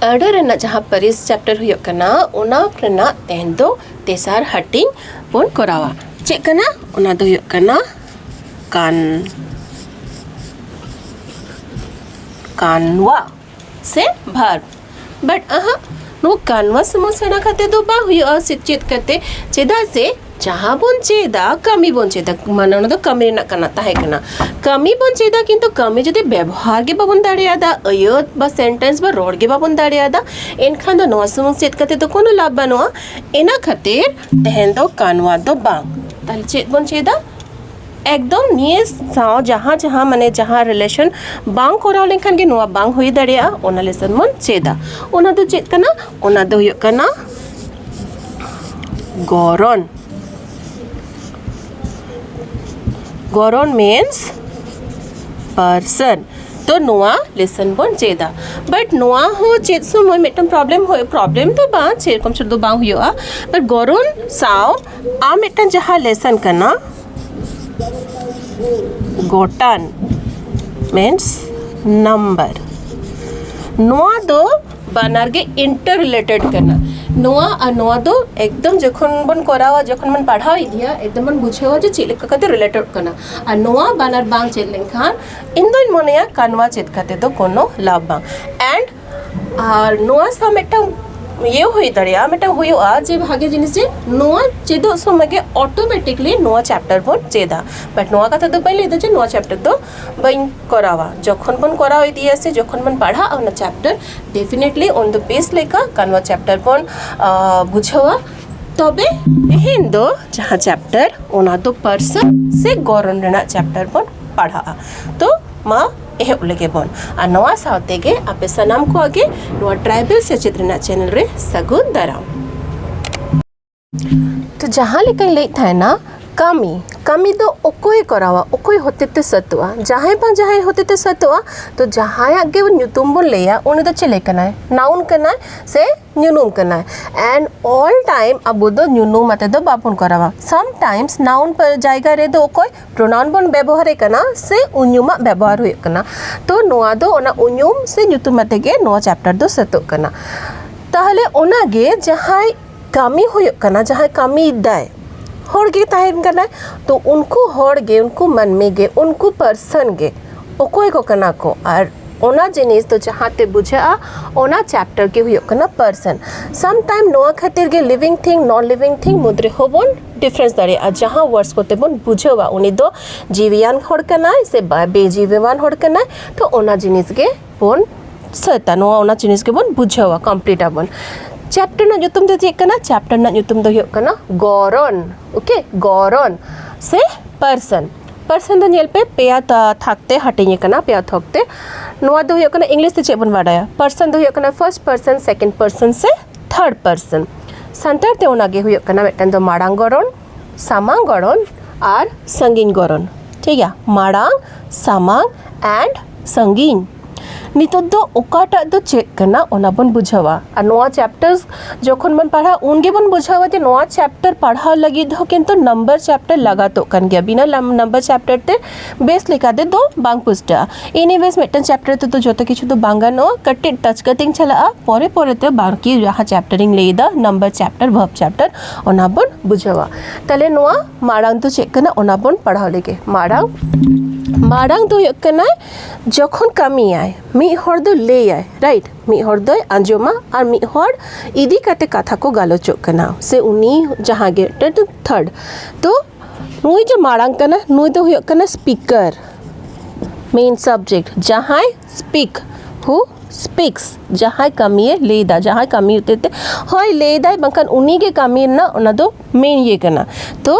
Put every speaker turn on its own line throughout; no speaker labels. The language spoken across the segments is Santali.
ᱟᱹᱰᱟᱹ ᱨᱮᱱᱟᱜ ᱡᱟᱦᱟᱸ ᱯᱟᱹᱨᱤᱥ ᱪᱮᱯᱴᱟᱨ ᱦᱩᱭᱩᱜ ᱠᱟᱱᱟ ᱚᱱᱟ ᱨᱮᱱᱟᱜ ᱛᱮᱦᱮᱧ ᱫᱚ ᱛᱮᱥᱟᱨ ᱦᱟᱹᱴᱤᱧ ᱵᱚᱱ ᱠᱚᱨᱟᱣᱟ ᱪᱮᱫ ᱠᱟᱱᱟ ᱚᱱᱟ ᱫᱚ ᱦᱩᱭᱩᱜ ᱠᱟᱱᱟ ᱠᱟᱱ ᱠᱟᱱᱣᱟ ᱥᱮ ᱵᱷᱟᱨᱵ ᱵᱟᱴ ᱟᱦᱟᱜ ᱱᱚᱣᱟ ᱠᱟᱱᱣᱟ ᱥᱚᱢᱚᱥᱥᱟ ᱠᱟᱛᱮ ᱫᱚ ᱵᱟᱝ ᱦᱩᱭᱩᱜᱼᱟ ᱥᱮ ᱪᱮᱫ ᱠᱟᱛᱮ ᱪᱮᱫᱟᱜ ᱥᱮ ᱡᱟᱦᱟᱸ ᱵᱚᱱ ᱪᱮᱫᱟ ᱠᱟᱹᱢᱤ ᱵᱚᱱ ᱪᱮᱫᱟ ᱢᱟᱱᱮ ᱚᱱᱟ ᱫᱚ ᱠᱟᱹᱢᱤ ᱨᱮᱱᱟᱜ ᱠᱟᱱᱟ ᱛᱟᱦᱮᱸ ᱠᱟᱱᱟ ᱠᱟᱹᱢᱤ ᱵᱚᱱ ᱪᱮᱫᱟ ᱠᱤᱱᱛᱩ ᱠᱟᱹᱢᱤ ᱡᱩᱫᱤ ᱵᱮᱵᱚᱦᱟᱨ ᱜᱮ ᱵᱟᱵᱚᱱ ᱫᱟᱲᱮᱭᱟᱫᱟ ᱟᱹᱭᱟᱹᱛ ᱵᱟ ᱥᱮᱱᱴᱮᱱᱥ ᱵᱟ ᱨᱚᱲ ᱜᱮ ᱵᱟᱵᱚᱱ ᱫᱟᱲᱮᱭᱟᱫᱟ ᱮᱱᱠᱷᱟᱱ ᱫᱚ ᱱᱚᱣᱟ ᱥᱩᱢᱩᱝ ᱪᱮᱫ ᱠᱟᱛᱮ ᱫᱚ ᱠᱳᱱᱳ ᱞᱟᱵᱷ ᱵᱟᱹᱱᱩᱜᱼᱟ ᱤᱱᱟᱹ ᱠᱷᱟᱹᱛᱤᱨ ᱛᱮᱦᱮᱧ ᱫᱚ ᱠᱟᱱᱣᱟ ᱫᱚ ᱵᱟᱝ ᱛᱟᱦᱚᱞᱮ ᱪᱮᱫ ᱵᱚᱱ ᱪᱮᱫᱟ ᱮᱠᱫᱚᱢ ᱱᱤᱭᱟᱹ ᱥᱟᱶ ᱡᱟᱦᱟᱸ ᱡᱟᱦᱟᱸ ᱢᱟᱱᱮ ᱡᱟᱦᱟᱸ ᱨᱤᱞᱮᱥᱚᱱ ᱵᱟᱝ ᱠᱚᱨᱟᱣ ᱞᱮᱱᱠᱷᱟᱱ ᱜᱮ ᱱᱚᱣᱟ ᱵᱟᱝ ᱦᱩᱭ ᱫᱟᱲᱮᱭᱟᱜᱼᱟ ᱚᱱᱟ ᱞᱮᱥᱚᱱ ᱵᱚᱱ ᱪᱮᱫᱟ ᱚᱱᱟ ᱫᱚ ᱪᱮᱫ ᱠᱟᱱᱟ ᱚᱱᱟ ᱫᱚ ᱦᱩᱭᱩᱜ ᱠᱟᱱᱟ ᱜᱚᱨᱚᱱ ᱜᱚᱨᱚᱱ ᱢᱤᱱᱥ ᱯᱟᱨᱥᱚᱱ ᱛᱚ ᱱᱚᱣᱟ ᱞᱮᱥᱚᱱ ᱵᱚᱱ ᱪᱮᱫᱟ ᱵᱟᱴ ᱱᱚᱣᱟ ᱦᱚᱸ ᱪᱮᱫ ᱥᱚᱢᱚᱭ ᱢᱤᱫᱴᱟᱝ ᱯᱨᱚᱵᱞᱮᱢ ᱦᱩᱭᱩᱜ ᱯᱨᱚᱵᱞᱮᱢ ᱫᱚ ᱵᱟᱝ ᱥᱮᱨᱚᱠᱚᱢ ᱥᱩᱫᱷᱩ ᱵᱟᱝ ᱦᱩᱭᱩᱜᱼᱟ ᱵᱟᱴ ᱜᱚᱨᱚᱱ ᱥᱟᱶ ᱟᱨ ᱢᱤᱫᱴᱟᱝ ᱡᱟᱦᱟᱸ ᱞᱮᱥᱚᱱ ᱠᱟᱱᱟ ᱜᱚᱴᱟᱱ ᱢᱤᱱᱥ ᱱᱟᱢᱵᱟᱨ ᱱᱚᱣᱟ ᱫᱚ ᱵᱟᱱᱟᱨ ᱜᱮ ᱤᱱᱴᱟᱨ ᱨᱤᱞᱮᱴᱮᱰ ᱠᱟᱱᱟ ᱱᱚᱣᱟ ᱟᱨ ᱱᱚᱣᱟ ᱫᱚ ᱮᱠᱫᱚᱢ ᱡᱚᱠᱷᱚᱱ ᱵᱚᱱ ᱠᱚᱨᱟᱣᱟ ᱡᱚᱠᱷᱚᱱ ᱵᱚᱱ ᱯᱟᱲᱦᱟᱣ ᱤᱫᱤᱭᱟ ᱮᱠᱫᱚᱢ ᱵᱚᱱ ᱵᱩᱡᱷᱟᱹᱣᱟ ᱡᱮ ᱪᱮᱫ ᱞᱮᱠᱟ ᱠᱟᱛᱮ ᱨᱤᱞᱮᱴᱮᱰ ᱠᱟᱱᱟ ᱟᱨ ᱱᱚᱣᱟ ᱵᱟᱱᱟᱨ ᱵᱟᱝ ᱪᱮᱫ ᱞᱮᱱᱠᱷᱟᱱ ᱤᱧ ᱫᱚᱧ ᱢᱚᱱᱮᱭᱟ ᱠᱟᱱᱣᱟ ᱪᱮᱫ ᱠᱟᱛᱮ ᱫᱚ ᱠᱳᱱᱳ ᱞᱟᱵᱷ ᱵᱟᱝ ᱮᱱᱰ ᱟᱨ ᱱᱚᱣᱟ ᱥᱟᱶ ᱢᱤᱫᱴᱟᱝ ᱤᱭᱟᱹ ᱦᱩᱭ ᱫᱟᱲᱮᱭᱟᱜᱼᱟ ᱢᱤᱫᱴᱟᱝ ᱦᱩᱭᱩᱜᱼᱟ ᱡᱮ ᱵᱷᱟᱜᱮ ᱡᱤᱱᱤᱥ ᱡᱮ ᱱᱚᱣᱟ ᱪᱮᱫᱚᱜ ᱥᱚᱢᱚᱭ ᱜᱮ ᱚᱴᱳᱢᱮᱴᱤᱠᱞᱤ ᱱᱚᱣᱟ ᱪᱮᱯᱴᱟᱨ ᱵᱚᱱ ᱪᱮᱫᱟ ᱵᱟᱴ ᱱᱚᱣᱟ ᱠᱟᱛᱷᱟ ᱫᱚ ᱵᱟᱹᱧ ᱞᱟᱹᱭᱫᱟ ᱡᱮ ᱱᱚᱣᱟ ᱪᱮᱯᱴᱟᱨ ᱫᱚ ᱵᱟᱹᱧ ᱠᱚᱨᱟᱣᱟ ᱡᱚᱠᱷᱚᱱ ᱵᱚᱱ ᱠᱚᱨᱟᱣ ᱤᱫᱤᱭᱟ ᱥᱮ ᱡᱚᱠᱷᱚᱱ ᱵᱚᱱ ᱯᱟᱲᱦᱟᱜᱼᱟ ᱚᱱᱟ ᱪᱮᱯᱴᱟᱨ ᱰᱮᱯᱷᱤᱱᱮᱴᱞᱤ ᱩᱱ ᱫᱚ ᱵᱮᱥ ᱞᱮᱠᱟ ᱠᱟᱱᱣᱟ ᱪᱮᱯᱴᱟᱨ ᱵᱚᱱ ᱵᱩᱡᱷᱟᱹᱣᱟ ᱛᱚᱵᱮ ᱛᱮᱦᱮᱧ ᱫᱚ ᱡᱟᱦᱟᱸ ᱪᱮᱯᱴᱟᱨ ᱚᱱᱟ ᱫᱚ ᱯᱟᱹᱨᱥᱤ ᱥᱮ ᱜᱚᱨᱚᱱ ᱨᱮᱱᱟᱜ ᱪᱮᱯᱴᱟᱨ ᱵᱚᱱ ᱯᱟᱲᱦᱟᱜᱼᱟ ᱛᱚ ᱢᱟ ᱮᱦᱚᱵ ᱞᱮᱜᱮ ᱵᱚᱱ ᱟᱨ ᱱᱚᱣᱟ ᱥᱟᱶ ᱛᱮᱜᱮ ᱟᱯᱮ ᱥᱟᱱᱟᱢ ᱠᱚᱣᱟᱜ ᱜᱮ ᱱᱚᱣᱟ ᱴᱨᱟᱭᱵᱮᱞ ᱥᱮᱪᱮᱫ ᱨᱮᱱᱟᱜ ᱪᱮᱱᱮᱞ ᱨᱮ ᱥᱟᱹᱜᱩᱱ ᱫᱟᱨᱟᱢ ᱛᱚ ᱡᱟᱦᱟᱸ ᱞᱮᱠᱟᱧ ᱞᱟᱹᱭᱮᱫ ᱛᱟᱦᱮᱱᱟ ᱠᱟᱹᱢᱤ ᱠᱟᱹᱢᱤ ᱫᱚ ᱚᱠᱚᱭ ᱠᱚᱨᱟᱣᱟ ᱚᱠᱚᱭ ᱦᱚᱛᱮᱛᱮ ᱥᱟᱹᱛᱚᱜᱼᱟ ᱡᱟᱦᱟᱸᱭ ᱵᱟᱝ ᱡᱟᱦᱟᱸᱭ ᱦᱚᱛᱮᱛᱮ ᱥᱟᱹᱛᱚᱜᱼᱟ ᱛᱚ ᱡᱟᱦᱟᱸᱭᱟᱜ ᱜᱮ ᱧᱩᱛᱩᱢ ᱵᱚᱱ ᱞᱟᱹᱭᱟ ᱩᱱᱤ ᱫᱚ ᱪᱮᱞᱮ ᱠᱟᱱᱟᱭ ᱱᱟᱣᱩᱱ ᱠᱟᱱᱟᱭ ᱥᱮ ᱧᱩᱱᱩᱢ ᱠᱟᱱᱟᱭ ᱮᱱᱰ ᱚᱞ ᱴᱟᱭᱤᱢ ᱟᱵᱚ ᱫᱚ ᱧᱩᱱᱩᱢ ᱟᱛᱮ ᱫᱚ ᱵᱟᱵᱚᱱ ᱠᱚᱨᱟᱣᱟ ᱥᱟᱢ ᱴᱟᱭᱤᱢᱥ ᱱᱟᱣᱩᱱ ᱡᱟᱭᱜᱟ ᱨᱮᱫᱚ ᱚᱠᱚᱭ ᱯᱨᱚᱱᱟᱣᱩᱱ ᱵᱚᱱ ᱵᱮᱵᱚᱦᱟᱨᱮ ᱠᱟᱱᱟ ᱥᱮ ᱩᱧᱩᱢᱟᱜ ᱵᱮᱵᱚᱦᱟᱨ ᱦᱩᱭᱩᱜ ᱠᱟᱱᱟ ᱛᱚ ᱱᱚᱣᱟ ᱫᱚ ᱚᱱᱟ ᱩᱧᱩᱢ ᱥᱮ ᱧᱩᱛᱩᱢ ᱟᱛᱮ ᱜᱮ ᱱᱚᱣᱟ ᱪᱮᱯᱴᱟᱨ ᱫᱚ ᱥᱟᱹᱛᱚᱜ ᱠᱟᱱᱟ ᱛᱟᱦᱚᱞᱮ ᱚᱱᱟᱜᱮ ᱡᱟᱦᱟᱸᱭ ᱠᱟᱹᱢᱤ ᱦᱩᱭᱩᱜ ᱠᱟᱱᱟ ᱡᱟᱦᱟᱸᱭ ᱠᱟᱹᱢᱤᱭᱮᱫᱟᱭ ᱦᱚᱲ ᱜᱮ ᱛᱟᱦᱮᱱ ᱠᱟᱱᱟᱭ ᱛᱚ ᱩᱱᱠᱩ ᱦᱚᱲ ᱜᱮ ᱩᱱᱠᱩ ᱢᱟᱹᱱᱢᱤ ᱜᱮ ᱩᱱᱠᱩ ᱯᱟᱨᱥᱚᱱ ᱜᱮ ᱚᱠᱚᱭ ᱠᱚ ᱠᱟᱱᱟ ᱠᱚ ᱟᱨ ᱚᱱᱟ ᱡᱤᱱᱤᱥ ᱫᱚ ᱡᱟᱦᱟᱸ ᱛᱮ ᱵᱩᱡᱷᱟᱹᱜᱼᱟ ᱚᱱᱟ ᱪᱮᱯᱴᱟᱨ ᱜᱮ ᱦᱩᱭᱩᱜ ᱠᱟᱱᱟ ᱯᱟᱨᱥᱚᱱ ᱥᱟᱢ ᱴᱟᱭᱤᱢ ᱱᱚᱣᱟ ᱠᱷᱟᱹᱛᱤᱨ ᱜᱮ ᱞᱤᱵᱷᱤᱝ ᱛᱷᱤᱝ ᱱᱚᱱ ᱞᱤᱵᱷᱤᱝ ᱛᱷᱤᱝ ᱢᱩᱫᱽ ᱨᱮᱦᱚᱸ ᱵᱚᱱ ᱰᱤᱯᱷᱟᱨᱮᱱᱥ ᱫᱟᱲᱮᱭᱟᱜᱼᱟ ᱡᱟᱦᱟᱸ ᱣᱟᱨᱰᱥ ᱠᱚᱛᱮ ᱵᱚᱱ ᱵᱩᱡᱷᱟᱹᱣᱟ ᱩᱱᱤ ᱫᱚ ᱡᱤᱣᱤᱭᱟᱱ ᱦᱚᱲ ᱠᱟᱱᱟᱭ ᱥᱮ ᱵᱟᱭ ᱵᱮᱡᱤᱣᱤᱣᱟᱱ ᱦᱚᱲ ᱠᱟᱱᱟᱭ ᱛᱚ ᱚᱱᱟ ᱡᱤᱱᱤᱥ ᱜᱮ ᱵᱚᱱ ᱥᱟᱹᱛᱟ ᱱᱚᱣᱟ ᱚᱱᱟ ᱡᱤᱱᱤᱥ ᱜᱮᱵᱚᱱ ᱵᱩᱡᱷᱟᱹᱣᱟ ᱠᱚᱢᱯᱞᱤᱴ ᱟᱵᱚᱱ ᱪᱮᱯᱴᱟᱨ ᱨᱮᱱᱟᱜ ᱧᱩᱛᱩᱢ ᱫᱚ ᱪᱮᱫ ᱠᱟᱱᱟ ᱪᱮᱯᱴᱟᱨ ᱨᱮᱱᱟᱜ ᱧᱩᱛᱩᱢ ᱫᱚ ᱦᱩᱭᱩᱜ ᱠᱟᱱᱟ ᱜᱚᱨᱚᱱ ᱳᱠᱮ ᱜᱚᱨᱚᱱ ᱥᱮ ᱯᱟᱨᱥᱚᱱ ᱯᱟᱨᱥᱮᱱ ᱫᱚ ᱧᱮᱞ ᱯᱮ ᱯᱮᱭᱟ ᱛᱷᱟᱠ ᱛᱮ ᱦᱟᱹᱴᱤᱧ ᱟᱠᱟᱱᱟ ᱯᱮᱭᱟ ᱛᱷᱚᱠ ᱛᱮ ᱱᱚᱣᱟ ᱫᱚ ᱦᱩᱭᱩᱜ ᱠᱟᱱᱟ ᱤᱝᱞᱤᱥ ᱛᱮ ᱪᱮᱫ ᱵᱚᱱ ᱵᱟᱰᱟᱭᱟ ᱯᱟᱨᱥᱮᱱ ᱫᱚ ᱦᱩᱭᱩᱜ ᱠᱟᱱᱟ ᱯᱷᱟᱨᱥᱴ ᱯᱟᱨᱥᱮᱱ ᱥᱮᱠᱮᱱᱰ ᱯᱟᱨᱥᱮᱱ ᱥᱮ ᱛᱷᱟᱨᱰ ᱯᱟᱨᱥᱮᱱ ᱥᱟᱱᱛᱟᱲ ᱛᱮ ᱚᱱᱟᱜᱮ ᱦᱩᱭᱩᱜ ᱠᱟᱱᱟ ᱢᱤᱫᱴᱮᱱ ᱫᱚ ᱢᱟᱲᱟᱝ ᱜᱚᱲᱚᱱ ᱥᱟᱢᱟᱝ ᱜᱚᱲᱚᱱ ᱟᱨ ᱥᱟᱺᱜᱤᱧ ᱜᱚᱲᱚᱱ ᱴᱷᱤᱠ ᱜᱮᱭᱟ ᱢᱟᱲᱟᱝ ᱥᱟᱢᱟᱝ ᱮᱱᱰ ᱥᱟᱺᱜᱤᱧ ᱱᱤᱛᱚᱜ ᱫᱚ ᱚᱠᱟᱴᱟᱜ ᱫᱚ ᱪᱮᱫ ᱠᱟᱱᱟ ᱚᱱᱟ ᱵᱚᱱ ᱵᱩᱡᱷᱟᱹᱣᱟ ᱟᱨ ᱱᱚᱣᱟ ᱪᱮᱯᱴᱟᱨ ᱡᱚᱠᱷᱚᱱ ᱵᱚᱱ ᱯᱟᱲᱦᱟᱜᱼᱟ ᱩᱱ ᱜᱮᱵᱚᱱ ᱵᱩᱡᱷᱟᱹᱣᱟ ᱡᱮ ᱱᱚᱣᱟ ᱪᱮᱯᱴᱟᱨ ᱯᱟᱲᱦᱟᱣ ᱞᱟᱹᱜᱤᱫ ᱦᱚᱸ ᱠᱤᱱᱛᱩ ᱱᱟᱢᱵᱟᱨ ᱪᱮᱯᱴᱟᱨ ᱞᱟᱜᱟᱛᱚᱜ ᱠᱟᱱ ᱜᱮᱭᱟ ᱵᱤᱱᱟᱹ ᱱᱟᱢᱵᱟᱨ ᱪᱮᱯᱴᱟᱨ ᱛᱮ ᱵᱮᱥ ᱞᱮᱠᱟ ᱛᱮᱫᱚ ᱵᱟᱝ ᱯᱩᱥᱴᱟᱹᱜᱼᱟ ᱮᱱᱤᱣᱮᱡᱽ ᱢᱤᱫᱴᱟᱝ ᱪᱮᱯᱴᱟᱨ ᱛᱮᱫᱚ ᱡᱚᱛᱚ ᱠᱤᱪᱷᱩ ᱫᱚ ᱵᱟᱝ ᱜᱟᱱᱚᱜᱼᱟ ᱠᱟᱹᱴᱤᱡ ᱴᱟᱪ ᱠᱟᱛᱮᱧ ᱪᱟᱞᱟᱜᱼᱟ ᱯᱚᱨᱮ ᱯᱚᱨᱮᱛᱮ ᱵᱟᱨᱠᱤ ᱡᱟᱦᱟᱸ ᱪᱮᱯᱴᱟᱨᱤᱧ ᱞᱟᱹᱭᱫᱟ ᱱᱟᱢᱵᱟᱨ ᱪᱮᱯᱴᱟᱨ ᱵᱷᱟᱨᱵᱽ ᱪᱮᱯᱴᱟᱨ ᱚᱱᱟ ᱵᱚᱱ ᱵᱩᱡᱷᱟᱹᱣᱟ ᱛᱟᱦᱚᱞᱮ ᱱᱚᱣᱟ ᱢᱟᱲᱟᱝ ᱫᱚ ᱪᱮᱫ ᱠᱟᱱᱟ ᱚᱱᱟ ᱵᱚᱱ ᱯᱟᱲᱦᱟᱣ ᱞᱮᱜᱮ ᱢᱟᱲᱟᱝ ᱢᱟᱲᱟᱝ ᱫᱚ ᱦᱩᱭᱩᱜ ᱠᱟᱱᱟ ᱡᱚᱠᱷᱚᱱ ᱠᱟᱹᱢᱤᱭᱟᱭ ᱢᱤᱫ ᱦᱚᱲ ᱫᱚ ᱞᱟᱹᱭᱟᱭ ᱨᱟᱭᱤᱴ ᱢᱤᱫ ᱦᱚᱲ ᱫᱚᱭ ᱟᱸᱡᱚᱢᱟ ᱟᱨ ᱢᱤᱫ ᱦᱚᱲ ᱤᱫᱤ ᱠᱟᱛᱮ ᱠᱟᱛᱷᱟ ᱠᱚ ᱜᱟᱞᱚᱪᱚᱜ ᱠᱟᱱᱟ ᱥᱮ ᱩᱱᱤ ᱡᱟᱦᱟᱸ ᱜᱮ ᱛᱷᱟᱨᱰ ᱛᱚ ᱱᱩᱭ ᱡᱮ ᱢᱟᱲᱟᱝ ᱠᱟᱱᱟ ᱱᱩᱭ ᱫᱚ ᱦᱩᱭᱩᱜ ᱠᱟᱱᱟ ᱥᱯᱤᱠᱟᱨ ᱢᱮᱱ ᱥᱟᱵᱡᱮᱠᱴ ᱡᱟᱦᱟᱸᱭ ᱥᱯᱤᱠ ᱦᱩ ᱥᱯᱤᱠᱥ ᱡᱟᱦᱟᱸᱭ ᱠᱟᱹᱢᱤᱭᱮ ᱞᱟᱹᱭᱫᱟ ᱡᱟᱦᱟᱸᱭ ᱠᱟᱹᱢᱤ ᱦᱚᱛᱮᱡ ᱛᱮ ᱦᱳᱭ ᱞᱟᱹᱭᱫᱟᱭ ᱵᱟᱝᱠᱷᱟᱱ ᱩᱱᱤᱜᱮ ᱠᱟᱹᱢᱤ ᱨᱮᱱᱟᱜ ᱚᱱᱟ ᱫᱚ ᱢᱮᱱ ᱤᱭᱟᱹ ᱠᱟᱱᱟ ᱛᱚ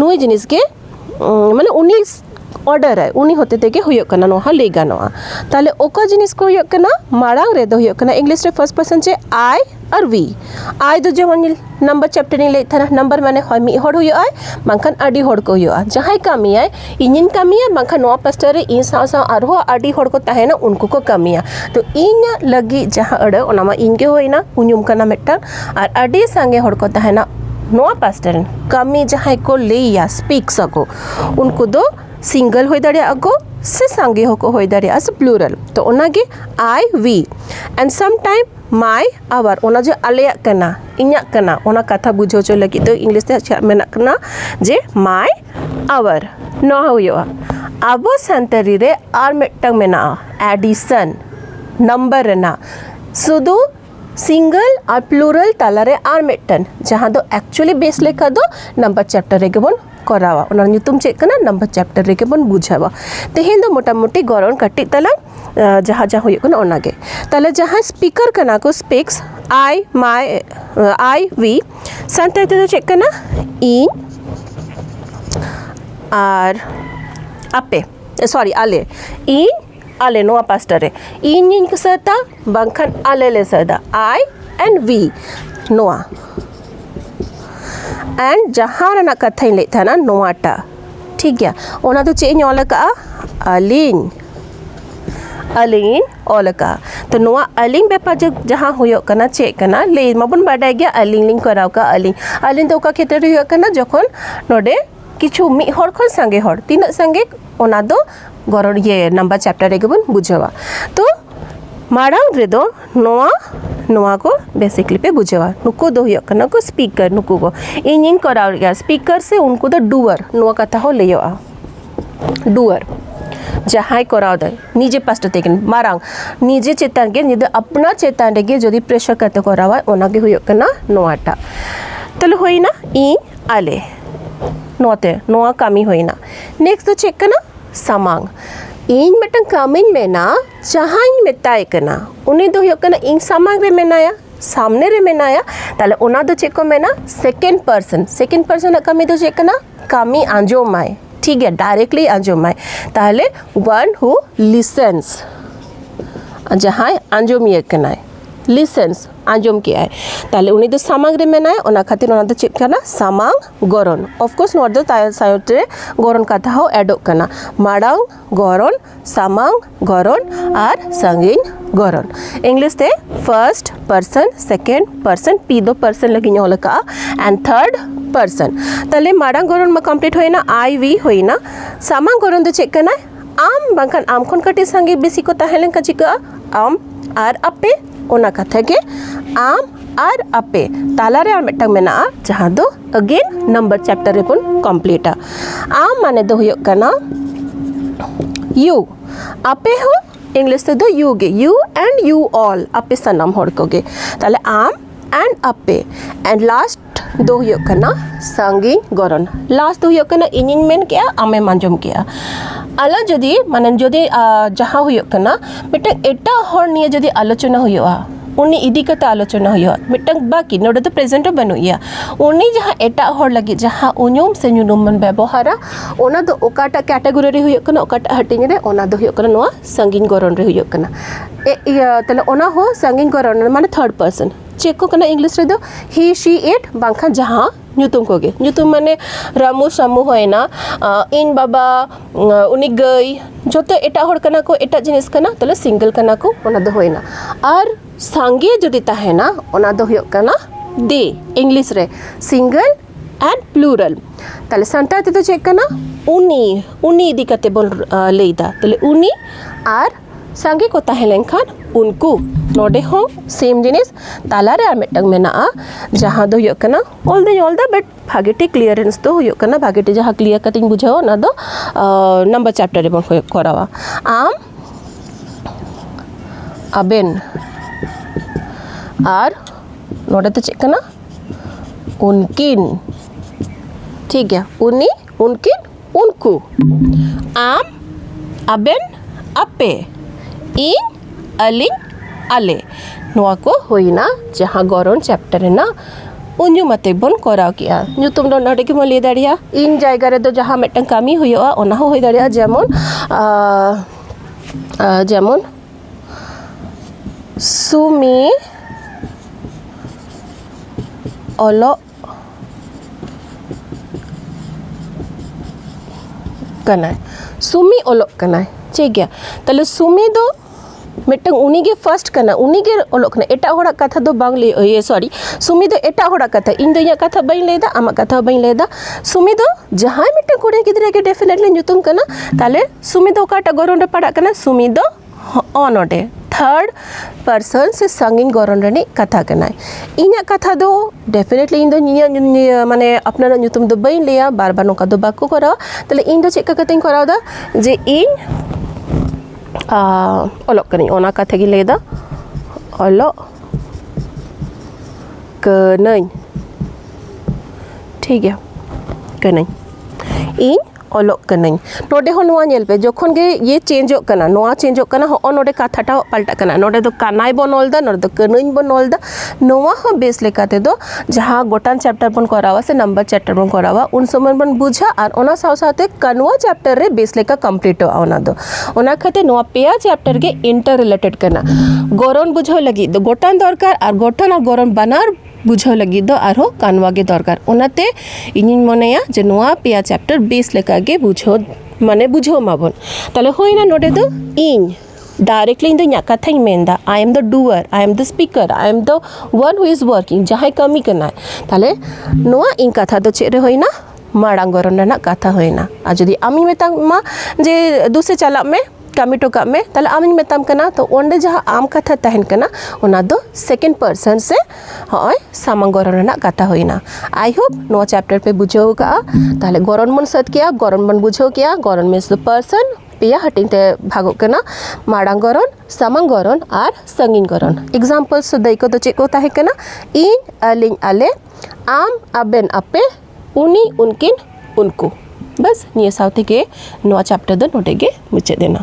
ᱱᱩᱭ ᱡᱤᱱᱤᱥ ᱜᱮ ᱢᱟᱱᱮ ᱩᱱᱤ ᱚᱰᱟᱨ ᱟᱭ ᱩᱱᱤ ᱦᱚᱛᱮ ᱛᱮᱜᱮ ᱦᱩᱭᱩᱜ ᱠᱟᱱᱟ ᱱᱚᱣᱟ ᱦᱚᱸ ᱞᱟᱹᱭ ᱜᱟᱱᱚᱜᱼᱟ ᱛᱟᱦᱚᱞᱮ ᱚᱠᱟ ᱡᱤᱱᱤᱥ ᱠᱚ ᱦᱩᱭᱩᱜ ᱠᱟᱱᱟ ᱢᱟᱲᱟᱝ ᱨᱮᱫᱚ ᱦᱩᱭᱩᱜ ᱠᱟᱱᱟ ᱤᱝᱞᱤᱥ ᱨᱮ ᱯᱷᱟᱥᱴ ᱯᱟᱨᱥᱮᱱ ᱪᱮᱫ ᱟᱭ ᱟᱨ ᱵᱤ ᱟᱭ ᱫᱚ ᱡᱮᱢᱚᱱ ᱱᱟᱢᱵᱟᱨ ᱪᱮᱯᱴᱟᱨ ᱤᱧ ᱞᱟᱹᱭᱮᱫ ᱛᱟᱦᱮᱱᱟ ᱱᱟᱢᱵᱟᱨ ᱢᱟᱱᱮ ᱦᱳᱭ ᱢᱤᱫ ᱦᱚᱲ ᱦᱩᱭᱩᱜ ᱟᱭ ᱵᱟᱝᱠᱷᱟᱱ ᱟᱹᱰᱤ ᱦᱚᱲ ᱠᱚ ᱦᱩᱭᱩᱜᱼᱟ ᱡᱟᱦᱟᱸᱭ ᱠᱟᱹᱢᱤᱭᱟᱭ ᱤᱧᱤᱧ ᱠᱟᱹᱢᱤᱭᱟ ᱵᱟᱝᱠᱷᱟᱱ ᱱᱚᱣᱟ ᱯᱟᱥᱴᱟ ᱨᱮ ᱤᱧ ᱥᱟᱶ ᱥᱟᱶ ᱟᱨᱦᱚᱸ ᱟᱹᱰᱤ ᱦᱚᱲ ᱠᱚ ᱛᱟᱦᱮᱱᱟ ᱩᱱᱠᱩ ᱠᱚ ᱠᱟᱹᱢᱤᱭᱟ ᱛᱚ ᱤᱧᱟᱹᱜ ᱞᱟᱹᱜᱤᱫ ᱡᱟᱦᱟᱸ ᱟᱹᱲᱟᱹ ᱚᱱᱟ ᱢᱟ ᱤᱧ ᱜᱮ ᱦᱩᱭᱱᱟ ᱩᱧᱩᱢ ᱠᱟᱱᱟ ᱢᱤᱫᱴᱟᱝ ᱟᱨ ᱟᱹᱰᱤ ᱥᱟᱸᱜᱮ ᱦᱚᱲ ᱠᱚ ᱛᱟᱦᱮᱱᱟ ᱱᱚᱣᱟ ᱯᱟᱥᱴᱟ ᱨᱮᱱ ᱠᱟᱹᱢᱤ ᱡᱟᱦᱟᱸᱭ ᱠᱚ ᱞᱟᱹᱭᱟ ᱥᱯᱤᱠᱥ ᱟᱠᱚ ᱩᱱᱠᱩ ᱫᱚ ᱥᱤᱝᱜᱮᱞ ᱦᱩᱭ ᱫᱟᱲᱮᱭᱟᱜᱼᱟ ᱠᱚ ᱥᱮ ᱥᱟᱸᱜᱮ ᱦᱚᱸᱠᱚ ᱦᱩᱭ ᱫᱟᱲᱮᱭᱟᱜᱼᱟ ᱥᱮ ᱯᱞᱩᱨᱟᱞ ᱛᱚ ᱚᱱᱟᱜᱮ I we and some time ᱢᱟᱭ ᱟᱣᱟᱨ ᱚᱱᱟ ᱡᱮ ᱟᱞᱮᱭᱟᱜ ᱠᱟᱱᱟ ᱤᱧᱟᱹᱜ ᱠᱟᱱᱟ ᱚᱱᱟ ᱠᱟᱛᱷᱟ ᱵᱩᱡᱷᱟᱹᱣ ᱦᱚᱪᱚ ᱞᱟᱹᱜᱤᱫ ᱛᱮ ᱤᱝᱞᱤᱥ ᱛᱮ ᱪᱮᱫ ᱢᱮᱱᱟᱜ ᱠᱟᱱᱟ ᱡᱮ ᱢᱟᱭ ᱟᱣᱟᱨ ᱱᱚᱣᱟ ᱦᱚᱸ ᱦᱩᱭᱩᱜᱼᱟ ᱟᱵᱚ ᱥᱟᱱᱛᱟᱲᱤ ᱨᱮ ᱟᱨ ᱢᱤᱫᱴᱟᱝ ᱢᱮᱱᱟᱜᱼᱟ ᱮᱰᱤᱥᱚᱱ ᱱᱟᱢᱵᱟᱨ ᱨᱮᱱᱟᱜ ᱥᱩᱫᱩ ᱥᱤᱝᱜᱮᱞ ᱟᱨ ᱯᱞᱩᱨᱟᱞ ᱛᱟᱞᱟᱨᱮ ᱟᱨ ᱢᱤᱫᱴᱮᱱ ᱡᱟᱦᱟᱸ ᱫᱚ ᱮᱠᱪᱩᱭᱮᱞᱤ ᱵᱮᱥ ᱞᱮᱠᱟ ᱫᱚ ᱱᱟᱢᱵᱟᱨ ᱪᱮᱯᱴᱟᱨ ᱨᱮᱜᱮ ᱵᱚᱱ ᱠᱚᱨᱟᱣᱟ ᱚᱱᱟ ᱧᱩᱛᱩᱢ ᱪᱮᱫ ᱠᱟᱱᱟ ᱱᱟᱢᱵᱟᱨ ᱪᱮᱯᱴᱟᱨ ᱨᱮᱜᱮ ᱵᱚᱱ ᱵᱩᱡᱷᱟᱹᱣᱟ ᱛᱮᱦᱮᱧ ᱫᱚ ᱢᱳᱴᱟᱢᱩᱴᱤ ᱜᱚᱲᱚᱱ ᱠᱟᱹᱴᱤᱡ ᱛᱟᱞᱟᱝ ᱡᱟᱦᱟᱸ ᱡᱟᱦᱟᱸ ᱦᱩᱭᱩᱜ ᱠᱟᱱᱟ ᱚᱱᱟᱜᱮ ᱛᱟᱦᱚᱞᱮ ᱡᱟᱦᱟᱸᱭ ᱥᱯᱤᱠᱟᱨ ᱠᱟᱱᱟ ᱠᱚ ᱥᱯᱤᱠᱥ ᱟᱭ ᱢᱟᱭ ᱟᱭ ᱩᱭ ᱥᱟᱱᱛᱟᱲ ᱛᱮᱫᱚ ᱪᱮᱫ ᱠᱟᱱᱟ ᱤᱧ ᱟᱨ ᱟᱯᱮ ᱥᱚᱨᱤ ᱟᱞᱮ ᱤᱧ ᱟᱞᱮ ᱱᱚᱣᱟ ᱯᱟᱥᱴᱟ ᱨᱮ ᱤᱧᱤᱧ ᱥᱟᱹᱛᱟ ᱵᱟᱝᱠᱷᱟᱱ ᱟᱞᱮ ᱞᱮ ᱥᱟᱹᱛᱟ ᱟᱭ ᱮᱱᱰ ᱩᱭ ᱱᱚᱣᱟ ᱮᱱᱰ ᱡᱟᱦᱟᱸ ᱨᱮᱱᱟᱜ ᱠᱟᱛᱷᱟᱧ ᱞᱟᱹᱭᱮᱫ ᱛᱟᱦᱮᱱᱟ ᱱᱚᱣᱟᱴᱟᱜ ᱴᱷᱤᱠ ᱜᱮᱭᱟ ᱚᱱᱟ ᱫᱚ ᱪᱮᱫ ᱤᱧ ᱚᱞ ᱟᱠᱟᱫᱼᱟ ᱟᱹᱞᱤᱧ ᱟᱹᱞᱤᱧ ᱤᱧ ᱚᱞ ᱟᱠᱟᱫᱼᱟ ᱛᱚ ᱱᱚᱣᱟ ᱟᱹᱞᱤᱧ ᱵᱮᱯᱟᱨ ᱡᱟᱦᱟᱸ ᱦᱩᱭᱩᱜ ᱠᱟᱱᱟ ᱪᱮᱫ ᱠᱟᱱᱟ ᱞᱟᱹᱭ ᱢᱟᱵᱚᱱ ᱵᱟᱰᱟᱭ ᱜᱮᱭᱟ ᱟᱹᱞᱤᱧ ᱞᱤᱧ ᱠᱚᱨᱟᱣ ᱠᱟᱜᱼᱟ ᱟᱹᱞᱤᱧ ᱟᱹᱞᱤᱧ ᱫᱚ ᱚᱠᱟ ᱠᱷᱮᱛᱨᱮ ᱨᱮ ᱦᱩᱭᱩᱜ ᱠᱟᱱᱟ ᱡᱚᱠᱷᱚᱱ ᱱᱚᱰᱮ ᱠᱤᱪᱷᱩ ᱢᱤᱫ ᱦᱚᱲ ᱠᱷᱚᱱ ᱥᱟᱸᱜᱮ ᱦᱚᱲ ᱛᱤᱱᱟᱹᱜ ᱥᱟᱸᱜᱮ ᱚᱱᱟ ᱫᱚ ᱜᱚᱨᱚ ᱤᱭᱟᱹ ᱱᱟᱢᱵᱟᱨ ᱪᱮᱯᱴᱟᱨ ᱨᱮᱜᱮ ᱵᱚᱱ ᱵᱩᱡᱷᱟᱹᱣᱟ ᱛᱚ ᱢᱟᱲᱟᱝ ᱨᱮᱫᱚ ᱱᱚᱣᱟ ᱱᱚᱣᱟ ᱠᱚ ᱵᱮᱥᱤᱠᱞᱤ ᱯᱮ ᱵᱩᱡᱷᱟᱹᱣᱟ ᱱᱩᱠᱩ ᱫᱚ ᱦᱩᱭᱩᱜ ᱠᱟᱱᱟ ᱠᱚ ᱥᱯᱤᱠᱟᱨ ᱱᱩᱠᱩ ᱠᱚ ᱤᱧᱤᱧ ᱠᱚᱨᱟᱣ ᱞᱮᱜᱼᱟ ᱥᱯᱤᱠᱟᱨ ᱥᱮ ᱩᱱᱠᱩ ᱫᱚ ᱰᱩᱣᱟᱨ ᱱᱚᱣᱟ ᱠᱟᱛᱷᱟ ᱦᱚᱸ ᱞᱟᱹᱭᱚᱜᱼᱟ ᱰᱩᱣᱟᱨ ᱡᱟᱦᱟᱸᱭ ᱠᱚᱨᱟᱣ ᱫᱟᱭ ᱱᱤᱡᱮ ᱯᱟᱥᱴᱟ ᱛᱮᱜᱮ ᱢᱟᱨᱟᱝ ᱱᱤᱡᱮ ᱪᱮᱛᱟᱱ ᱜᱮ ᱱᱤᱡᱮ ᱟᱯᱱᱟᱨ ᱪᱮᱛᱟᱱ ᱨᱮᱜᱮ ᱡᱩᱫᱤ ᱯᱨᱮᱥᱟᱨ ᱠᱟᱛᱮ ᱠᱚᱨᱟᱣᱟᱭ ᱚᱱᱟᱜᱮ ᱦᱩᱭᱩᱜ ᱠᱟᱱᱟ ᱱᱚᱣᱟᱴᱟᱜ ᱛᱟᱦᱞᱮ ᱦᱩᱭᱱᱟ ᱤᱧ ᱟᱞᱮ ᱱᱚᱣᱟᱛᱮ ᱱᱚᱣᱟ ᱠᱟᱹᱢᱤ ᱦᱩᱭᱱᱟ ᱱᱮᱠᱥᱴ ᱫᱚ ᱪᱮᱫ ᱠᱟᱱᱟ ᱥᱟᱢᱟᱝ ᱤᱧ ᱢᱤᱫᱴᱟᱝ ᱠᱟᱹᱢᱤᱧ ᱢᱮᱱᱟ ᱡᱟᱦᱟᱸᱧ ᱢᱮᱛᱟᱭ ᱠᱟᱱᱟ ᱩᱱᱤ ᱫᱚ ᱦᱩᱭᱩᱜ ᱠᱟᱱᱟ ᱤᱧ ᱥᱟᱢᱟᱝ ᱨᱮ ᱢᱮᱱᱟᱭᱟ ᱥᱟᱢᱱᱮ ᱨᱮ ᱢᱮᱱᱟᱭᱟ ᱛᱟᱦᱞᱮ ᱚᱱᱟ ᱫᱚ ᱪᱮᱫ ᱠᱚ ᱢᱮᱱᱟ ᱥᱮᱠᱮᱱᱰ ᱯᱟᱨᱥᱚᱱ ᱥᱮᱠᱮᱱᱰ ᱯᱟᱨᱥᱚᱱᱟᱜ ᱠᱟᱹᱢᱤ ᱫᱚ ᱪᱮᱫ ᱠᱟᱱᱟ ᱠᱟᱹᱢᱤ ᱟᱸᱡᱚᱢᱟᱭ ᱴᱷᱤᱠ ᱜᱮᱭᱟ ᱰᱟᱭᱨᱮᱠᱴᱞᱤ ᱟᱸᱡᱚᱢᱟᱭ ᱛᱟᱦᱞᱮ ᱳᱣᱟᱱ ᱦᱩ ᱞᱤᱥᱮᱱᱥ ᱡᱟᱦᱟᱸᱭ ᱟᱸᱡᱚᱢᱤᱭᱟᱹ ᱠᱟᱱᱟᱭ ᱞᱤᱥᱮᱱᱥ ᱟᱸᱡᱚᱢ ᱠᱮᱜᱼᱟᱭ ᱛᱟᱦᱞᱮ ᱩᱱᱤ ᱫᱚ ᱥᱟᱢᱟᱝ ᱨᱮ ᱢᱮᱱᱟᱭᱟ ᱚᱱᱟ ᱠᱷᱟᱹᱛᱤᱨ ᱚᱱᱟ ᱫᱚ ᱪᱮᱫ ᱠᱟᱱᱟ ᱥᱟᱢᱟᱝ ᱜᱚᱨᱚᱱ ᱚᱯᱷᱠᱳᱨᱥ ᱱᱚᱣᱟ ᱫᱚ ᱛᱟᱭᱚᱢ ᱥᱟᱭᱚᱛ ᱨᱮ ᱜᱚᱨᱚᱱ ᱠᱟᱛᱷᱟ ᱦᱚᱸ ᱮᱰᱚᱜ ᱠᱟᱱᱟ ᱢᱟᱲᱟᱝ ᱜᱚᱨᱚᱱ ᱥᱟᱢᱟᱝ ᱜᱚᱨᱚᱱ ᱟᱨ ᱥᱟᱺᱜᱤᱧ ᱜᱚᱨᱚᱱ ᱤᱝᱞᱤᱥ ᱛᱮ ᱯᱷᱟᱨᱥᱴ ᱯᱟᱨᱥᱚᱱ ᱥᱮᱠᱮᱱᱰ ᱯᱟᱨᱥᱚᱱ ᱯᱤ ᱫᱚ ᱯᱟᱨᱥᱚᱱ ᱞᱟᱹᱜᱤᱫ ᱚᱞ ᱟᱠᱟᱜᱼᱟ ᱮᱱᱰ ᱛᱷᱟᱨᱰ ᱯᱟᱨᱥᱚᱱ ᱛᱟᱦᱞᱮ ᱢᱟᱲᱟᱝ ᱜᱚᱨᱚᱱ ᱢᱟ ᱠᱚᱢᱯᱞᱤᱴ ᱦᱩᱭᱱᱟ ᱟᱭ ᱩᱭ ᱦᱩᱭᱱᱟ ᱥᱟᱢᱟᱝ ᱜᱚᱨᱚᱱ ᱫᱚ ᱪᱮᱫ ᱠᱟᱱᱟ ᱟᱢ ᱵᱟᱝᱠᱷᱟᱱ ᱟᱢ ᱠᱷᱚᱱ ᱠᱟᱹᱴᱤᱡ ᱥᱟᱸᱜᱮ ᱵᱮᱥᱤ ᱠᱚ ᱛᱟᱦᱮᱸ ᱞᱮᱱᱠᱷᱟᱱ ᱪᱤᱠᱟᱹᱜᱼᱟ ᱟᱢ ᱟᱨ ᱟᱯᱮ ᱚᱱᱟ ᱠᱟᱛᱷᱟ ᱜᱮ ᱟᱢ ᱟᱨ ᱟᱯᱮ ᱛᱟᱞᱟᱨᱮ ᱟᱨ ᱢᱤᱫᱴᱟᱝ ᱢᱮᱱᱟᱜᱼᱟ ᱡᱟᱦᱟᱸ ᱫᱚ ᱟᱜᱮᱱ ᱱᱟᱢᱵᱟᱨ ᱪᱮᱯᱴᱟᱨ ᱨᱮᱵᱚᱱ ᱠᱚᱢᱯᱞᱤᱴᱟ ᱟᱢ ᱢᱟᱱᱮ ᱫᱚ ᱦᱩᱭᱩᱜ ᱠᱟᱱᱟ ᱭᱩ ᱟᱯᱮ ᱦᱚᱸ ᱤᱝᱞᱤᱥ ᱛᱮᱫᱚ ᱭᱩ ᱜᱮ ᱭᱩ ᱮᱱᱰ ᱭᱩ ᱚᱞ ᱟᱯᱮ ᱥᱟᱱᱟᱢ ᱦᱚᱲ ᱠᱚᱜᱮ ᱛᱟᱦᱞᱮ ᱟᱢ ᱮᱱᱰ ᱟᱯᱮ ᱮᱱᱰ ᱞᱟᱥᱴ ᱫᱚ ᱦᱩᱭᱩᱜ ᱠᱟᱱᱟ ᱥᱟᱺᱜᱤᱧ ᱜᱚᱨᱚᱱ ᱞᱟᱥ ᱫᱚ ᱦᱩᱭᱩᱜ ᱠᱟᱱᱟ ᱤᱧᱤᱧ ᱢᱮᱱ ᱠᱮᱜᱼᱟ ᱟᱢᱮᱢ ᱟᱸᱡᱚᱢ ᱠᱮᱜᱼᱟ ᱟᱞᱟᱝ ᱡᱩᱫᱤ ᱢᱟᱱᱮ ᱡᱩᱫᱤ ᱡᱟᱦᱟᱸ ᱦᱩᱭᱩᱜ ᱠᱟᱱᱟ ᱢᱤᱫᱴᱮᱱ ᱮᱴᱟᱜ ᱦᱚᱲ ᱱᱤᱭᱮ ᱡᱩᱫᱤ ᱟᱞᱳᱪᱚᱱᱟ ᱦᱩᱭᱩᱜᱼᱟ ᱩᱱᱤ ᱤᱫᱤ ᱠᱟᱛᱮ ᱟᱞᱳᱪᱚᱱᱟ ᱦᱩᱭᱩᱜᱼᱟ ᱢᱤᱫᱴᱟᱝ ᱵᱟᱹᱠᱤ ᱱᱚᱰᱮ ᱫᱚ ᱯᱨᱮᱡᱮᱱᱴ ᱦᱚᱸ ᱵᱟᱹᱱᱩᱜ ᱮᱭᱟ ᱩᱱᱤ ᱡᱟᱦᱟᱸ ᱮᱴᱟᱜ ᱦᱚᱲ ᱞᱟᱹᱜᱤᱫ ᱡᱟᱦᱟᱸ ᱩᱧᱩᱢ ᱥᱮ ᱧᱩᱱᱩᱢ ᱵᱚᱱ ᱵᱮᱵᱚᱦᱟᱨᱟ ᱚᱱᱟ ᱫᱚ ᱚᱠᱟᱴᱟᱜ ᱠᱮᱴᱟᱜᱚᱨᱤ ᱨᱮ ᱦᱩᱭᱩᱜ ᱠᱟᱱᱟ ᱚᱠᱟᱴᱟᱜ ᱦᱟᱹᱴᱤᱧ ᱨᱮ ᱚᱱᱟ ᱫᱚ ᱦᱩᱭᱩᱜ ᱠᱟᱱᱟ ᱱᱚᱣᱟ ᱥᱟᱺᱜᱤᱧ ᱜᱚᱨᱚᱱ ᱨᱮ ᱦᱩᱭᱩᱜ ᱠᱟᱱᱟ ᱤᱭᱟᱹ ᱛᱟᱦᱚᱞᱮ ᱚᱱᱟ ᱦᱚᱸ ᱥᱟᱺᱜᱤᱧ ᱜᱚᱨᱚᱱ ᱢᱟᱱᱮ ᱛᱷᱟᱨᱰ ᱯᱟᱨᱥᱮᱱ ᱪᱮᱫ ᱠᱚ ᱠᱟᱱᱟ ᱤᱝᱞᱤᱥ ᱨᱮᱫᱚ ᱦᱤ ᱥᱤ ᱤᱴ ᱵᱟᱝᱠᱷᱟᱱ ᱡᱟᱦᱟᱸ ᱧᱩᱛᱩᱢ ᱠᱚᱜᱮ ᱧᱩᱛᱩᱢ ᱢᱟᱱᱮ ᱨᱟᱢᱩ ᱥᱟᱢᱩ ᱦᱩᱭᱮᱱᱟ ᱤᱧ ᱵᱟᱵᱟ ᱩᱱᱤ ᱜᱟᱹᱭ ᱡᱚᱛᱚ ᱮᱴᱟᱜ ᱦᱚᱲ ᱠᱟᱱᱟ ᱠᱚ ᱮᱴᱟᱜ ᱡᱤᱱᱤᱥ ᱠᱟᱱᱟ ᱛᱟᱦᱚᱞᱮ ᱥᱤᱝᱜᱮᱞ ᱠᱟᱱᱟ ᱠᱚ ᱚᱱᱟ ᱫᱚ ᱦᱩᱭᱮᱱᱟ ᱟᱨ ᱥᱟᱸᱜᱮ ᱡᱩᱫᱤ ᱛᱟᱦᱮᱱᱟ ᱚᱱᱟ ᱫᱚ ᱦᱩᱭᱩᱜ ᱠᱟᱱᱟ ᱫᱮ ᱤᱝᱞᱤᱥ ᱨᱮ ᱥᱤᱝᱜᱮᱞ ᱮᱱᱰ ᱯᱞᱩᱨᱟᱞ ᱛᱟᱦᱚᱞᱮ ᱥᱟᱱᱛᱟᱲ ᱛᱮᱫᱚ ᱪᱮᱫ ᱠᱟᱱᱟ ᱩᱱᱤ ᱩᱱᱤ ᱤᱫᱤ ᱠᱟᱛᱮ ᱵᱚᱱ ᱞᱟᱹᱭᱫᱟ ᱛᱟᱦᱚᱞᱮ ᱩᱱᱤ ᱟᱨ ᱥᱟᱸᱜᱮ ᱠᱚ ᱛᱟᱦᱮᱸ ᱞᱮᱱᱠᱷᱟᱱ ᱩᱱᱠᱩ ᱱᱚᱰᱮ ᱦᱚᱸ ᱥᱮᱢ ᱡᱤᱱᱤᱥ ᱛᱟᱞᱟᱨᱮ ᱟᱨ ᱢᱤᱫᱴᱟᱝ ᱢᱮᱱᱟᱜᱼᱟ ᱡᱟᱦᱟᱸ ᱫᱚ ᱦᱩᱭᱩᱜ ᱠᱟᱱᱟ ᱚᱞ ᱫᱚᱧ ᱚᱞ ᱫᱟ ᱵᱟᱴ ᱵᱷᱟᱜᱮ ᱴᱷᱤᱠ ᱠᱞᱤᱭᱟᱨᱮᱱᱥ ᱫᱚ ᱦᱩᱭᱩᱜ ᱠᱟᱱᱟ ᱵᱷᱟᱜᱮ ᱴᱷᱤᱠ ᱡᱟᱦᱟᱸ ᱠᱞᱤᱭᱟᱨ ᱠᱟᱛᱮᱧ ᱵᱩᱡᱷᱟᱹᱣᱟ ᱚᱱᱟ ᱫᱚ ᱱᱟᱢᱵᱟᱨ ᱪᱮᱯᱴᱟᱨ ᱨᱮᱵᱚᱱ ᱠᱚᱨᱟᱣᱟ ᱟᱢ ᱟᱵᱮᱱ ᱟᱨ ᱱᱚᱰᱮ ᱫᱚ ᱪᱮᱫ ᱠᱟᱱᱟ ᱩᱱᱠᱤᱱ ᱴᱷᱤᱠ ᱜᱮᱭᱟ ᱩᱱᱤ ᱩᱱᱠᱤᱱ ᱩᱱᱠᱩ ᱟᱢ ᱟᱵᱮᱱ ᱟᱯᱮ ᱤᱧ ᱟᱹᱞᱤᱧ ᱟᱞᱮ ᱱᱚᱣᱟ ᱠᱚ ᱦᱩᱭᱱᱟ ᱡᱟᱦᱟᱸ ᱜᱚᱲᱦᱚᱱ ᱪᱮᱯᱴᱟᱨ ᱨᱮᱱᱟᱜ ᱩᱧᱩᱢ ᱟᱛᱮᱫ ᱵᱚᱱ ᱠᱚᱨᱟᱣ ᱠᱮᱜᱼᱟ ᱧᱩᱛᱩᱢ ᱫᱚ ᱱᱚᱰᱮ ᱜᱮᱵᱚᱱ ᱞᱟᱹᱭ ᱫᱟᱲᱮᱭᱟᱜᱼᱟ ᱤᱧ ᱡᱟᱭᱜᱟ ᱨᱮᱫᱚ ᱡᱟᱦᱟᱸ ᱢᱤᱫᱴᱟᱝ ᱠᱟᱹᱢᱤ ᱦᱩᱭᱩᱜᱼᱟ ᱚᱱᱟ ᱦᱚᱸ ᱦᱩᱭ ᱫᱟᱲᱮᱭᱟᱜᱼᱟ ᱡᱮᱢᱚᱱ ᱡᱮᱢᱚᱱ ᱥᱩᱢᱤ ᱚᱞᱚᱜ ᱠᱟᱱᱟᱭ ᱥᱩᱢᱤ ᱚᱞᱚᱜ ᱠᱟᱱᱟᱭ ᱴᱷᱤᱠ ᱜᱮᱭᱟ ᱛᱟᱦᱞᱮ ᱥᱩᱢᱤ ᱫᱚ ᱢᱤᱫᱴᱟᱝ ᱩᱱᱤᱜᱮ ᱯᱷᱟᱥᱴ ᱠᱟᱱᱟ ᱩᱱᱤᱜᱮ ᱚᱞᱚᱜ ᱠᱟᱱᱟᱭ ᱮᱴᱟᱜ ᱦᱚᱲᱟᱜ ᱠᱟᱛᱷᱟ ᱫᱚ ᱵᱟᱝ ᱞᱟᱹᱭ ᱤᱭᱟᱹ ᱥᱚᱨᱤ ᱥᱩᱢᱤ ᱫᱚ ᱮᱴᱟᱜ ᱦᱚᱲᱟᱜ ᱠᱟᱛᱷᱟ ᱤᱧ ᱫᱚ ᱤᱧᱟᱹᱜ ᱠᱟᱛᱷᱟ ᱵᱟᱹᱧ ᱞᱟᱹᱭᱫᱟ ᱟᱢᱟᱜ ᱠᱟᱛᱷᱟ ᱦᱚᱸ ᱵᱟᱹᱧ ᱞᱟᱹᱭᱫᱟ ᱥᱩᱢᱤ ᱫᱚ ᱡᱟᱦᱟᱸᱭ ᱢᱤᱫᱴᱟᱝ ᱠᱩᱲᱤ ᱜᱤᱫᱽᱨᱟᱹ ᱜᱮ ᱰᱮᱯᱷᱤᱱᱮᱴᱞᱤ ᱧᱩᱛᱩᱢ ᱠᱟᱱᱟ ᱛᱟᱦᱞᱮ ᱥᱩᱢᱤ ᱫᱚ ᱚᱠᱟᱴᱟᱜ ᱜᱚᱲᱦᱚᱱ ᱨᱮ ᱯᱟᱲᱟᱜ ᱠᱟᱱᱟ ᱥᱩᱢᱤ ᱫᱚ ᱦᱚᱜᱼᱚ ᱱᱚᱰᱮ ᱛᱷᱟᱨᱰ ᱯᱟᱨᱥᱚᱱ ᱥᱮ ᱥᱟᱺᱜᱤᱧ ᱜᱚᱨᱚᱱ ᱨᱤᱱᱤᱡ ᱠᱟᱛᱷᱟ ᱠᱟᱱᱟᱭ ᱤᱧᱟᱹᱜ ᱠᱟᱛᱷᱟ ᱫᱚ ᱰᱮᱯᱷᱤᱱᱮᱴᱞᱤ ᱤᱧ ᱫᱚ ᱤᱧᱟᱹᱜ ᱱᱤᱭᱟᱹ ᱢᱟᱱᱮ ᱟᱯᱱᱟᱨᱟᱜ ᱧᱩᱛᱩᱢ ᱫᱚ ᱵᱟᱹᱧ ᱞᱟᱹᱭᱟ ᱵᱟᱨ ᱵᱟᱨ ᱱᱚᱝᱠᱟ ᱫᱚ ᱵᱟᱠᱚ ᱠᱚᱨᱟᱣᱟ ᱛᱟᱦᱚᱞᱮ ᱤᱧ ᱫᱚ ᱪᱮᱫᱠᱟ ᱠᱟᱛᱮᱧ ᱠᱚᱨᱟᱣᱫᱟ ᱡᱮ ᱤᱧ ᱚᱞᱚᱜ ᱠᱟᱹᱱᱟᱹᱧ ᱚᱱᱟ ᱠᱟᱛᱷᱟ ᱜᱮᱧ ᱞᱟᱹᱭᱫᱟ ᱚᱞᱚᱜ ᱠᱟᱹᱱᱟᱹᱧ ᱴᱷᱤᱠ ᱜᱮᱭᱟ ᱠᱟᱹᱱᱟᱹᱧ ᱤᱧ ᱚᱞᱚᱜ ᱠᱟᱹᱱᱟᱹᱧ ᱱᱚᱰᱮ ᱦᱚᱸ ᱱᱚᱣᱟ ᱧᱮᱞ ᱯᱮ ᱡᱚᱠᱷᱚᱱ ᱜᱮ ᱤᱭᱟᱹ ᱪᱮᱧᱡᱚᱜ ᱠᱟᱱᱟ ᱱᱚᱣᱟ ᱪᱮᱧᱡᱚᱜ ᱠᱟᱱᱟ ᱦᱚᱜᱼᱚᱭ ᱱᱚᱰᱮ ᱠᱟᱛᱷᱟᱴᱟᱜ ᱦᱚᱸ ᱯᱟᱞᱴᱟᱜ ᱠᱟᱱᱟ ᱱᱚᱰᱮ ᱫᱚ ᱠᱟᱱᱟᱭ ᱵᱚᱱ ᱚᱞᱫᱟ ᱱᱚᱰᱮ ᱫᱚ ᱠᱟᱹᱱᱟᱹᱧ ᱵᱚᱱ ᱚᱞᱫᱟ ᱱᱚᱣᱟ ᱦᱚᱸ ᱵᱮᱥ ᱞᱮᱠᱟ ᱛᱮᱫᱚ ᱡᱟᱦᱟᱸ ᱜᱚᱴᱟᱱ ᱪᱮᱯᱴᱟᱨ ᱵᱚᱱ ᱠᱚᱨᱟᱣᱟ ᱥᱮ ᱱᱟᱢᱵᱟᱨ ᱪᱮᱯᱴᱟᱨ ᱵᱚᱱ ᱠᱚᱨᱟᱣᱟ ᱩᱱ ᱥᱚᱢᱚᱭ ᱵᱚᱱ ᱵᱩᱡᱟ ᱟᱨ ᱚᱱᱟ ᱥᱟᱶ ᱥᱟᱶᱛᱮ ᱠᱟᱱᱣᱟ ᱪᱮᱯᱴᱟᱨ ᱨᱮ ᱵᱮᱥ ᱞᱮᱠᱟ ᱠᱚᱢᱯᱞᱤᱴᱚᱜᱼᱟ ᱚᱱᱟ ᱫᱚ ᱚᱱᱟ ᱠᱷᱟᱹᱛᱤᱨ ᱱᱚᱣᱟ ᱯᱮᱭᱟ ᱪᱮᱯᱴᱟᱨ ᱜᱮ ᱤᱱᱴᱟᱨ ᱨᱤᱞᱮᱴᱮᱰ ᱠᱟᱱᱟ ᱜᱚᱨᱚᱱ ᱵᱩᱡᱷᱟᱹᱣ ᱞᱟᱹᱜᱤᱫ ᱫᱚ ᱜᱚᱴᱟᱱ ᱫᱚᱨᱠᱟᱨ ᱟᱨ ᱜᱚᱴᱟᱱ ᱟᱨ ᱜᱚᱨᱚᱱ ᱵᱟᱱᱟᱨ ᱵᱩᱡᱷᱟᱹᱣ ᱞᱟᱹᱜᱤᱫ ᱫᱚ ᱟᱨᱦᱚᱸ ᱠᱟᱱᱣᱟ ᱜᱮ ᱫᱚᱨᱠᱟᱨ ᱚᱱᱟᱛᱮ ᱤᱧᱤᱧ ᱢᱚᱱᱮᱭᱟ ᱡᱮ ᱱᱚᱣᱟ ᱯᱮᱭᱟ ᱪᱮᱯᱴᱟᱨ ᱵᱮᱥ ᱞᱮᱠᱟ ᱜᱮ ᱵᱩᱡᱷᱟᱹᱣ ᱢᱟᱱᱮ ᱵᱩᱡᱷᱟᱹᱣ ᱢᱟᱵᱚᱱ ᱛᱟᱦᱚᱞᱮ ᱦᱩᱭᱱᱟ ᱱᱚᱰᱮ ᱫᱚ ᱤᱧ ᱰᱟᱭᱨᱮᱠᱴᱞᱤ ᱤᱧ ᱫᱚ ᱤᱧᱟᱹᱜ ᱠᱟᱛᱷᱟᱧ ᱢᱮᱱᱫᱟ I am the doer I am the speaker I am the one who is working ᱡᱟᱦᱟᱸᱭ ᱠᱟᱹᱢᱤ ᱠᱟᱱᱟᱭ ᱛᱟᱦᱚᱞᱮ ᱱᱚᱣᱟ ᱤᱧ ᱠᱟᱛᱷᱟ ᱫᱚ ᱪᱮᱫ ᱨᱮ ᱦᱩᱭᱱᱟ ᱢᱟᱲᱟᱝ ᱜᱚᱨᱚᱱ ᱨᱮᱱᱟᱜ ᱠᱟᱛᱷᱟ ᱦᱩᱭᱱᱟ ᱟᱨ ᱡᱩᱫᱤ ᱟᱢᱤᱧ ᱢᱮᱛᱟᱢᱟ ᱡᱮ ᱫᱩ ᱥᱮᱫ ᱪᱟᱞᱟᱜ ᱢᱮ ᱠᱟᱹᱢᱤ ᱦᱚᱴᱚ ᱠᱟᱜ ᱢᱮ ᱛᱟᱦᱚᱞᱮ ᱟᱢᱤᱧ ᱢᱮᱛᱟᱢ ᱠᱟᱱᱟ ᱛᱚ ᱚᱸᱰᱮ ᱡᱟᱦᱟᱸ ᱟᱢ ᱠᱟᱛᱷᱟ ᱛᱟᱦᱮᱱ ᱠᱟᱱᱟ ᱚᱱᱟ ᱫᱚ ᱥᱮᱠᱮᱱᱰ ᱯᱟᱨᱥᱮᱱ ᱥᱮ ᱦᱚᱜᱼᱚᱭ ᱥᱟᱢᱟᱝ ᱜᱚᱨᱚᱱ ᱨᱮᱱᱟᱜ ᱠᱟᱛᱷᱟ ᱦᱩᱭᱱᱟ ᱟᱭ ᱦᱳᱯ ᱱᱚᱣᱟ ᱪᱮᱯᱴᱟᱨ ᱯᱮ ᱵᱩᱡᱷᱟᱹᱣ ᱠᱟᱜᱼᱟ ᱛᱟᱦᱚᱞᱮ ᱜᱚᱨᱚᱱ ᱵᱚᱱ ᱥᱟᱹᱛ ᱠᱮᱜᱼᱟ ᱜᱚᱨᱚᱱ ᱵᱚᱱ ᱵᱩᱡᱷᱟᱹᱣ ᱠᱮᱜᱼᱟ ᱜᱚᱨᱚᱱ ᱢᱤᱱᱥ ᱫᱚ ᱯᱟᱨᱥᱮᱱ ᱯᱮᱭᱟ ᱦᱟᱹᱴᱤᱧ ᱛᱮ ᱵᱷᱟᱜᱚᱜ ᱠᱟᱱᱟ ᱢᱟᱲᱟᱝ ᱜᱚᱨᱚᱱ ᱥᱟᱢᱟᱝ ᱜᱚᱨᱚᱱ ᱟᱨ ᱥᱟᱺᱜᱤᱧ ᱜᱚᱨᱚᱱ ᱮᱠᱡᱟᱢᱯᱚᱞ ᱥᱮ ᱫᱟᱹᱭᱠᱟᱹ ᱫᱚ ᱪᱮᱫ ᱠᱚ ᱛᱟᱦᱮᱸ ᱠᱟᱱᱟ ᱤᱧ ᱟᱹᱞᱤᱧ ᱟᱞᱮ ᱟᱢ ᱟᱵᱮᱱ ᱟᱯᱮ ᱩᱱᱤ ᱩᱱᱠᱤᱱ ᱩᱱᱠᱩ ᱵᱟᱥ ᱱᱤᱭᱟᱹ ᱥᱟᱶ ᱛᱮᱜᱮ ᱱᱚᱣᱟ ᱪᱮᱯᱴᱟᱨ ᱫᱚ ᱱᱚᱰᱮ ᱜᱮ ᱢᱩᱪᱟᱹᱫ ᱮᱱᱟ